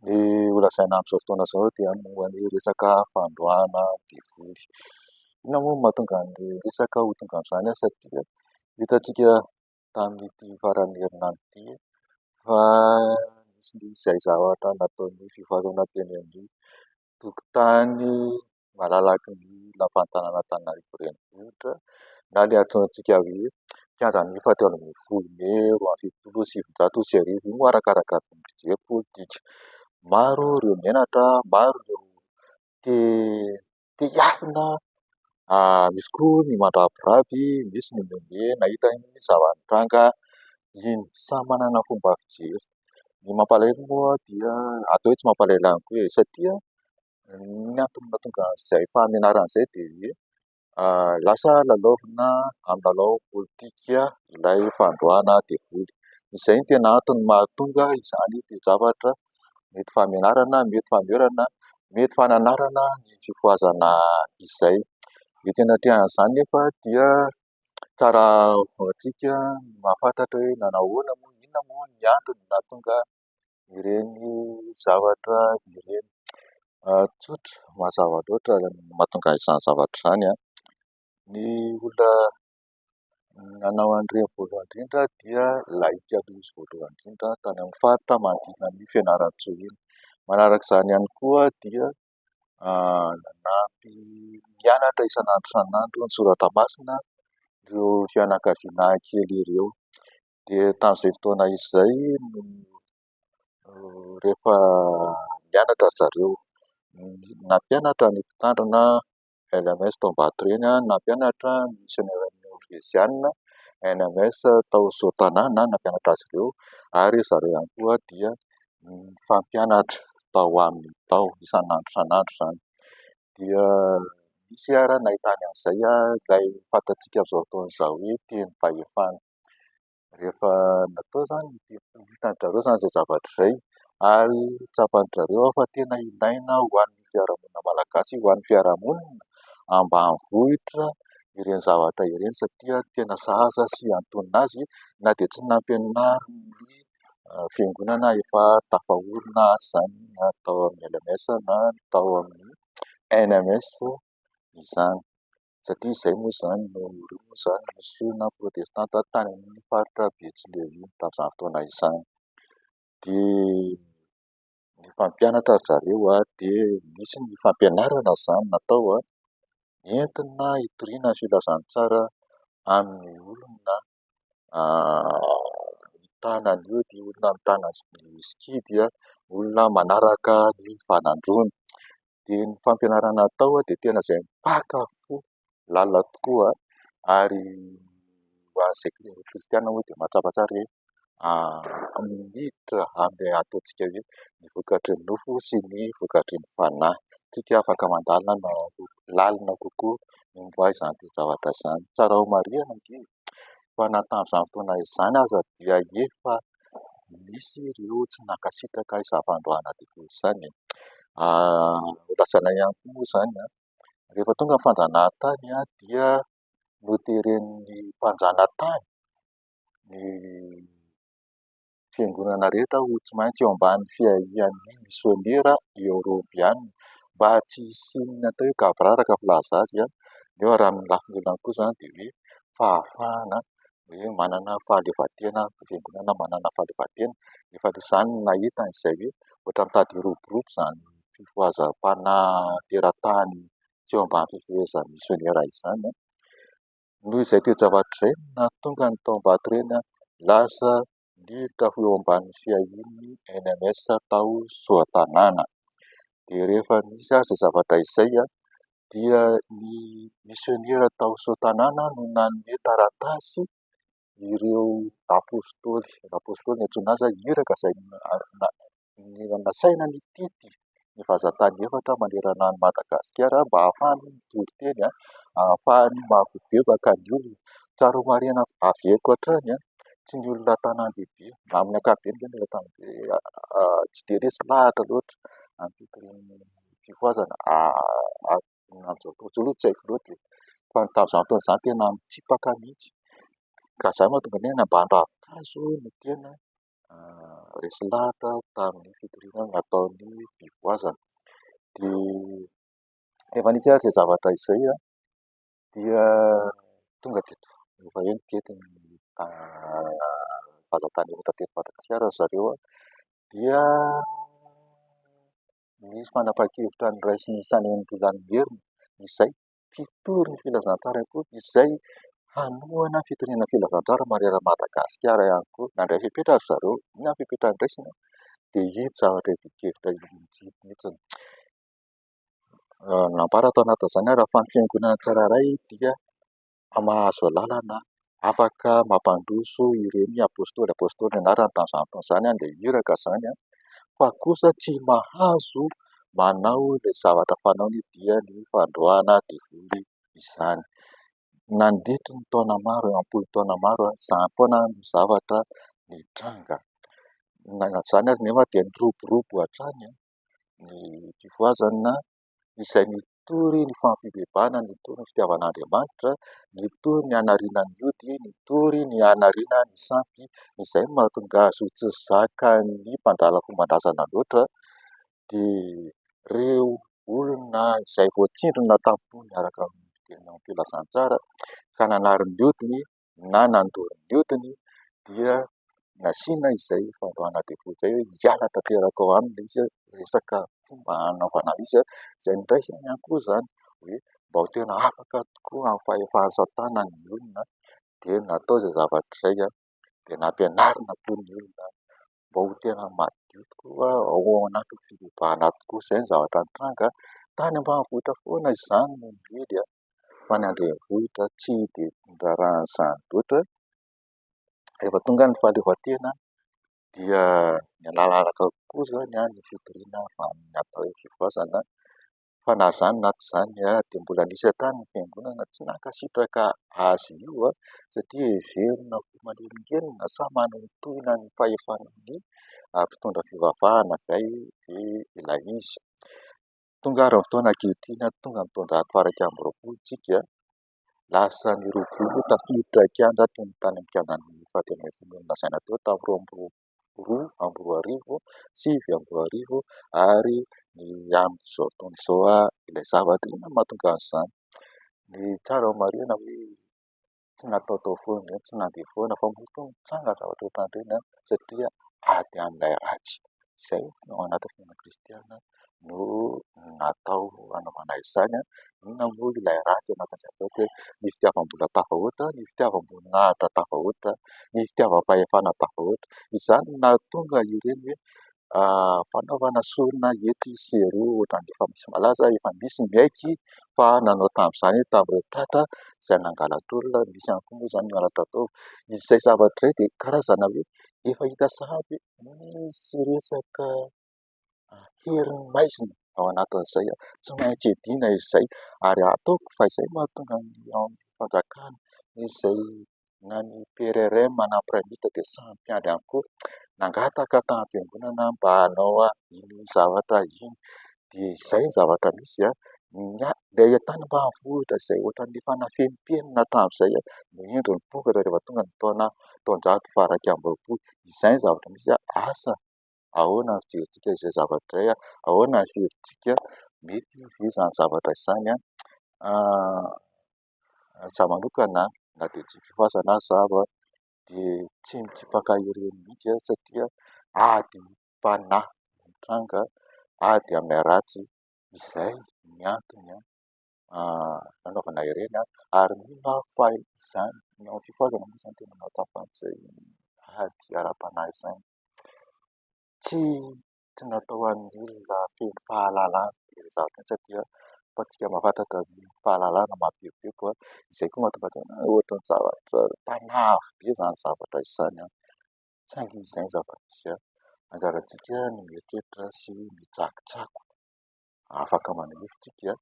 Ny ho lazaina amin'izao fotoana izao dia momba ny resaka fandroahana devoly. Inona moa no mahatonga ny resaka ho tonga amin'izany asa dia hitantsika tamin'ity faran'ny herinandro ity fa nisy ny izay zavatra nataon'ny fivoarana teny amin'ny tokotany malalaky ny lapan'ny tanànan'Antananarivo renivohitra na ilay antsointsika hoe kianjan'ny efa telo ambin'ny folo mey roa amby fitopolo sy sivinjato sy arivo, io moa arakaraka ny fijery politika. Maro ireo menatra, maro ireo te te hiafina, misy koa ny mandrabirary, misy ny mihomehy nahita ny zava-nitranga iny. Samy manana ny fomba fijeriny. Ny mampalahelo moa dia, atao hoe tsy mampalahelo ihany koa e, satria ny antony mahatonga an'izay fahamenarana izay dia hoe lasa lalaovina amin'ny lalao politika ilay fandroahana devoly. Izay no tena antony mahatonga izany toe-javatra mety fahamenarana, mety fanoherana, mety fananarana ny fifohazana izay. Ny tena atrehan'izany nefa dia... Tsara ho antsika ny mahafantatra hoe nanahoana moa, inona moa ny antony nahatonga ireny zavatra ireny. Tsotra, mazava loatra ny mahatonga izany zavatra izany. Ny olona nanao an'ireny voalohany indrindra dia lahiky aloha izy voalohany indrindra tany amin'ny faritra manodidina an'i Fianarantsoa iny. Manaraka izany ihany koa dia nanampy nianatra isan'andro isan'andro ny soratra masina ireo fianakaviana kely ireo. Dia tamin'izay fotoana izay no rehefa nianatra ry zareo. Nampianatra ny mpitandrina. LMS tao Ambatoreny aho nampianatra ny Misionera'ny Nôrveziana, LMS tao Sotana aho nampianatra azy ireo ary izy ireo ihany koa dia nifampianatra tao aminy tao isan'andro isan'andro izany dia nisy ary nahitany an'izay aho izay fantatsika amin'izao fotoana izao hoe teny fahefana. rehefa natao izany dia hitan-dry zareo izany izay zavatra izay ary tsapan-dry zareo ao fa tena ilaina ho an'ny fiarahamonina malagasy, ho an'ny fiarahamonina ambanivohitra ireny zavatra ireny satria tena sahaza sy antonona azy na dia tsy nampianarin'ny fiangonana efa tafaorina aza izany na tao amin'ny LMS na tao amin'ny NMS izany. satria izay moa izany no ireo moa izany no fisian'ny maha protestanta ahy tany amin'ny faritra Betsileo tamin'izany fotoana izany dia ny mpampianatra ry zareo ary dia nisy ny fampianarana izany natao entina hitoriana ny filazantsara amin'ny olona mitana an'io dia olona mitana ny sikidy, olona manaraka ny fanandroany. Dia ny fampianarana atao dia tena izay mipaka fo lalina tokoa ary ho an'izay kristianina moa dia mahatsapa tsara hoe miditra amin'ny ataontsika hoe ny vokatry ny nofo sy ny vokatry ny fanahy. Isika afaka mandalina na lalina kokoa ny momba izany toe-javatra izany. Tsara homarihina ange fa na tamin'izany fotoana izany aza dia efa nisy ireo tsy nankasitraka izany fandroahana difoizy izany. Nolazaina ihany koa moa izany rehefa tonga ny fanjanahantany dia noteren'ny mpanjanatany. ny fiangonana rehetra ho tsy maintsy eo ambany fiahian'ny misionera eoropeana mba tsy hisian'ny atao hoe gaboraraka filaza azy neo ary amin'ny lafiny lelany kosa dia hoe fahafahana hoe manana fahaleovantena ny fiangonana manana fahaleovantena efa izany no nahitany izay hoe ohatra mitady hiroborobo izany fifohazam-panahy teratany tsy eo ambany fifehezan'ny misionera izany noho izay toe-javatra izay no nahatonga ny tao Ambatoreny lasa niditra ho eo ambanin'ny fiahian'ny NMS tao Soatanàna. Dia rehefa nisy ary izay zavatra izay dia ny misionera tao Soatanàna no nanome taratasy. ireo apostoly, ny apostoly no antsoina azy, iraka izay nasaina nitety ny vazan-tany efatra manerana an'i Madagasikara mba hahafahany mitory teny, hahafahany mamaky bebaka ny olona. Tsara omariana avy eko hatrany tsy ny olona an-tanàn-dehibe na amin'ny ankapobeny ve ny olona an-tanàn-dehibe, tsy dia resy lahatra loatra amin'ny fitorian'ny fifohazana. Amin'izao fotoana izao aloha tsy haiko loatra e. Fa ny tamin'izany fotoana izany tena nitsipaka mihitsy. Ka za mantsy mbola niaina ambany ravin-kazo no tena resy lahatra tamin'ny fitoriana nataon'ny mpivoazana. Dia rehefa nisy àry izay zavatra izay dia tonga dia efa eny teto ny fahazavana eto Madagasikara ry zareo dia... ny fanapahan-kevitra noraisin'ny Sanenitra izany merina izay mpitory ny filazantsara koa izay hanohana fitoriana ny filazantsara manerana an'i Madagasikara ihany koa. Nandray fepetra ry zareo, inona ny fepetra noraisina? dia iny zavatra ity kevitra ity mihitsy. Nampara tao anatin'izany ary fa ny fiangonana tsirairay dia mahazo alalana afaka mampandroso ireny apôstôly apôstôly anarany tamin'izany fotoana izany dia iraka izany fa kosa tsy mahazo manao ilay zavatra fanaony dia ny fandroahana devoly izany. Nandritry ny taona maro eo am-polo taona maro izany foana no zavatra nitranga. Nananan'izany ary nefa dia niroborobo hatrany ny tifoazina. izay mitory ny fampibebahana, mitory ny fitiavan'Andriamanitra, mitory ny hanariana ny ody, mitory ny hanariana ny sampy. Izay no mahatonga azy ho tsy zakan'ny mpandala fomban-drazana loatra dia ireo olona izay voatsindrona tampoka niaraka amin'ny filazantsara ka nanary ny odiny. na nandoro ny hodiny dia nasiana izay fandroahana defaut izay hoe hiala tanteraka ao aminy ilay izy, resaka fomba hanaovana izy izay niraisany ihany koa izany hoe mba ho tena afaka tokoa amin'ny fahefana asa tanana ny olona dia natao izay zavatra izay dia nampianarina koa ny olona. mba ho tena madio tokoa ao anatin'ny fivavahana tokoa. Izay no zavatra nitranga tany ambanivohitra foana izany no niely an! Fa ny an-drenivohitra tsy dia niraharaha an'izany loatra. Rehefa tonga ny fahaleovantena dia niala araka kokoa izany ny fitoriana amin'ny atao hoe fivozana. fa na izany na tsy izany dia mbola nisy hatrany ny fiangonana tsy nankasitraka azy io satria heverina ho manelingelina sa manintontoina ny fahefan'ny mpitondra fivavahana ve ilay izy. Tonga ary ny fotoana ankehitriny, tonga ny taonjato faha iraika amby roapolo isika, lasa nirogorogo tafiditra kianja tony tany am-piandohan'ny faha telo ambin'ny folo ony lazaina teo tamin'ny roa amby roapolo sy roa arivo. roa amby roa arivo sivy amby roa arivo ary ny amin'izao fotoana izao ilay zavatra inona no mahatonga an'izany? Ny tsara ho marihina hoe tsy nataotao foana ve, tsy nandeha foana ve fa mety hoe nitranga zavatra ohatran'ireny satria ady amin'ilay ratsy. Izay no ao anatin'ny fiainana kristianina. no natao hanaovana izany. Inona moa ilay ratsy ao anatin'izany atao hoe ny fitiavam-bola tafahoatra, ny fitiavam-boninahitra tafahoatra, ny fitiavam-pahefana tafahoatra. Izany no nahatonga ireny hoe fanaovana sorona etsy sy eroa ohatran'ny efa misy malaza, efa misy miaiky fa nanao tamin'izany tamin'ireo tratra izay nangala-tolona. Misy ihany koa moa izany ny halatra atao. Izay zavatra izay dia karazana hoe efa hita sahady hoe misy resaka. herin'ny maizina ao anatin'izay tsy maintsy hiadiana izay ary ataoko fa izay no mahatonga ny ao amin'ny fanjakana izay na ny PRRM na ny PRAMIT dia samy mpiandry ihany koa, nangataka tamim-piangonana mba hanao iny zavatra iny dia izay ny zavatra misy an, ilay tany ambanivohitra izay ohatran'ny efa nafenimpenina hatramin'izay no indro nipokatra rehefa tonga ny taona taonjato faharaika amby roapolo, izay ny zavatra misy an, asa. ahoana ny fihevitsika izay zavatra izay, ahoana ny hevitsika, mety ve izany zavatra izany izaho manokana na dia tsy fifazana aza aho dia tsy mitsipaka ireny mihitsy aho satria adim-panahy mitranga, ady amin'ny ratsy, izay ny antony nanaovana ireny ary mino aho fa izany ny amin'ny fifazana moa izany tena mahatsapa an'izay ady ara-panahy izany. tsy tsy natao ho an'ny olona feno fahalalana ireny zavatra ireny satria ataontsika mahafantatra ny fahalalana mavimbinby an! izay koa mahatonga an-tena hoe ohatra ny zavatra mpanafo be izany zavatra izany an! saingy izay ny zava-misy an! anjarantsika ny mieritreritra sy ny mitsakotsako afaka maneho hevitra isika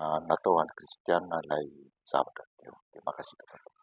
an! natao ho an'ny kristianina ilay zavatra teo dia mankasitraka tompoko.